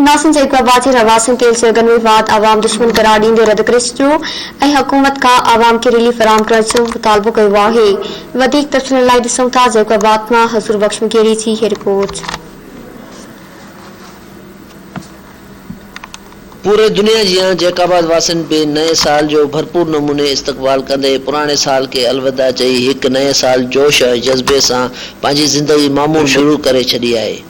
ناسين جي اقوام آباد جي رهواسين تيل سوئيگن ۾ واڌ عوام دشمن قرار ڏيندي رد ڪري ڇڏيو ۽ حڪومت کان عوام کي ريليف فراهم ڪرڻ جو مطالبو ڪيو آهي وڌيڪ تفصيلن لاء ڏسون ٿا جيڪب آباد مان حضور بخش مغيري جي هي رپورٽ. پوري دنيا جيان جيڪب آباد واسين به نئين سال جو ڀرپور نموني استقبال ڪندي پراڻي سال کي الوداع چئي هڪ نئين سال جوش ۽ جذبي سان پنهنجي زندگي معمول شروع ڪري ڇڏي آهي.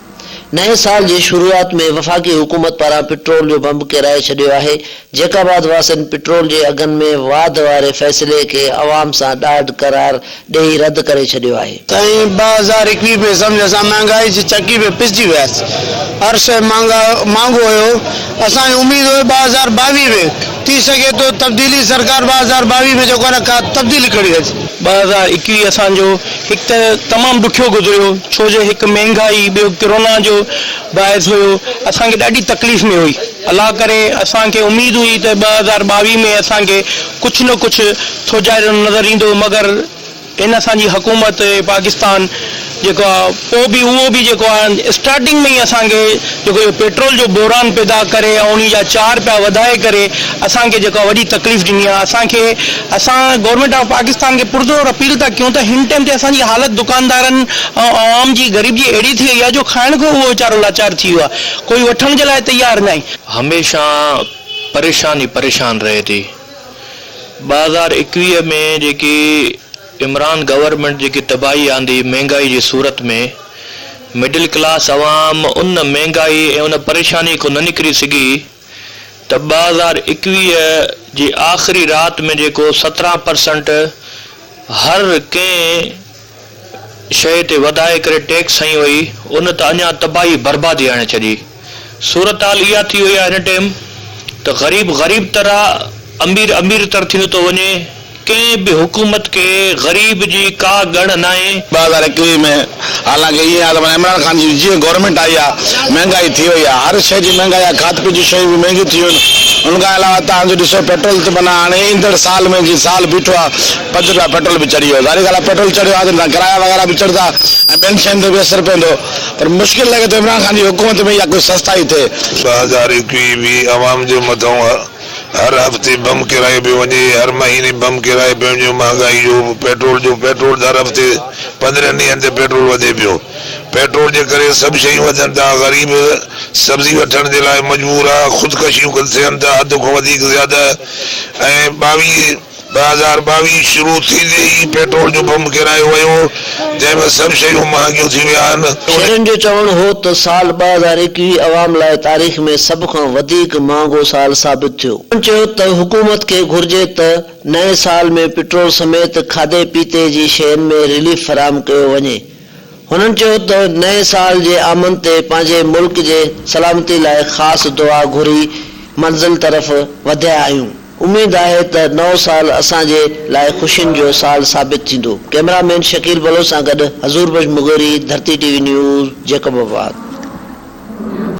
نئين سال جي شروعات ۾ وفاقي حڪومت پاران پٽرول جو بمب ڪيرائي ڇڏيو آهي، جيڪاباد واسين پٽرول جي اگهن ۾ واڌ واري فيصلي کي عوام سان ڏاڍ قرار ڏئي رد ڪري ڇڏيو آهي. سائين ٻه هزار ايڪويهه ۾ سمجهه اسان مهانگائي جي چڪي ۾ پسجي وياس هر شئي مهانگا مهانگو هيو اسان کي اميد هئي ٻه هزار ٻاويهه ۾ ٿي سگهي ٿو تبديلي سرڪار ٻه هزار ٻاويهه ۾ جيڪو آهي نه ڪا تبديلي کڻي اچي. ٻه هزار ايڪويهه اسان جو هڪ ته تمام ڏکيو گذريو ڇو جو هڪ مهنگائي ٻيو ڪرونا جو باعث هيو اسان کي ڏاڍي تڪليف ۾ هئي الله ڪري اسان کي اميد هئي ته ٻه هزار ٻاويهه ۾ اسان کي ڪجهه نه ڪجهه ٿوجهاريون نظر ايندو مگر هن اسان جي حڪومت پاڪستان جيڪو آهي پوء به اهو به جيڪو آهي اسٽارٽنگ ۾ ئي اسان کي جيڪو اهو پيٽرول جو بحران پيدا ڪري ۽ انهي جا چار پيا وڌائي ڪري اسان کي جيڪا وڏي تڪليف ڏني آهي اسان کي اسان گورنمينٽ آف پاڪستان کي پرزور اپيل ٿا ڪيون ته هن ٽيم تي اسان جي حالت دڪاندارن ۽ عوام جي غريب جي اهڙي ٿي وئي آهي جو کائڻ کان اهو ويچارو لاچار ٿي ويو آهي ڪوئي وٺڻ جي لاء تيار ناهي. هميشه پريشان ئي پريشان رهي ٿي ٻه هزار ايڪويهه ۾ جيڪي عمران گورنمينٽ جيڪي تباهي آندي مهنگائي جي صورت ۾ مڊل ڪلاس عوام ان مهنگائي ۽ ان پريشاني کون نه نڪري سگهي ته ٻه هزار ايڪويهه جي آخري رات ۾ جيڪو سترهن پرسنٽ هر ڪنهن شئي تي وڌائي ڪري ٽيڪس هنئي وئي ان ته اڃان تباهي بربادي هڻي ڇڏي. صورتحال اها ٿي وئي آهي هن ٽيم ته غريب غريب تر آ امير امير تر ٿيندو ٿو وڃي ڪنهن به حڪومت کي غريب جي ڪا ڳڻ ناهي. ٻه هزار ايڪويهه ۾ حالانڪ ايئن آهي ته معنيٰ عمران خان جي جيئن گورنمينٽ آئي آهي مهنگائي ٿي وئي آهي هر شئي جي مهنگائي آهي کاڌ پيت جون شيون به مهنگيون ٿي ويون ان کان علاوه تان جو ڏسو پيٽرول ته معنيٰ هاڻي ايندڙ سال ۾ جي سال بيٺو آهي پنج روپيا پيٽرول به چڙهي ويو ظاهري ڳالهه آهي پيٽرول چڙهيو آهي ته معنيٰ ڪرايا وغيره به چڙهندا ۽ ٻين شين تي به اثر پوندو پر مشڪل لڳي ٿو عمران خان جي حڪومت ۾ اها ڪجهه سستائي ٿئي. ٻه هزار ايڪويهه ۾ عوام جي مٿئون هر هفتي بم ڪيرايو پيو وڃي، هر مهيني بم ڪيرايو پيو وڃي، مهانگائي جو پيٽرول جو پيٽرول هر هفتي پندرهن ڏينهن تي پيٽرول وڌي پيو، پيٽرول جي ڪري سڀ شيون وڌن ٿا، غريب سبزي وٺڻ جي لاء مجبور آ، خودڪشيون ٿين ٿا حد کان وڌيڪ زياده ۽ ٻاويهه. ٻه هزار ٻاويهه شروع ٿيندي ئي پيٽرول جو بم ڪيرايو ويو، جنهن ۾ سڀ شيون مهانگيون ٿي ويا آهن. شرين جو چوڻ هو ته سال ٻه هزار ايڪويهه عوام لاء تاريخ ۾ سڀ کان وڌيڪ مهانگو سال ثابت ٿيو. هن چيو ته حڪومت کي گهرجي ته نئين سال ۾ پيٽرول سميت کاڌي پيتي جي شين ۾ رليف فراهم ڪيو وڃي. هنن چيو ته نئين سال جي آمد تي پنهنجي ملڪ جي سلامتي لاء خاص دعا گهري منزل طرف وڌيا آهيون، اميد آهي ته نئون سال اسان جي لاء خوشين جو سال ثابت ٿيندو، ڪئميرا مين شڪيل بلوچ سان گڏ حضور Bakhsh Maghori, Dharti T V news, Jacob آباد.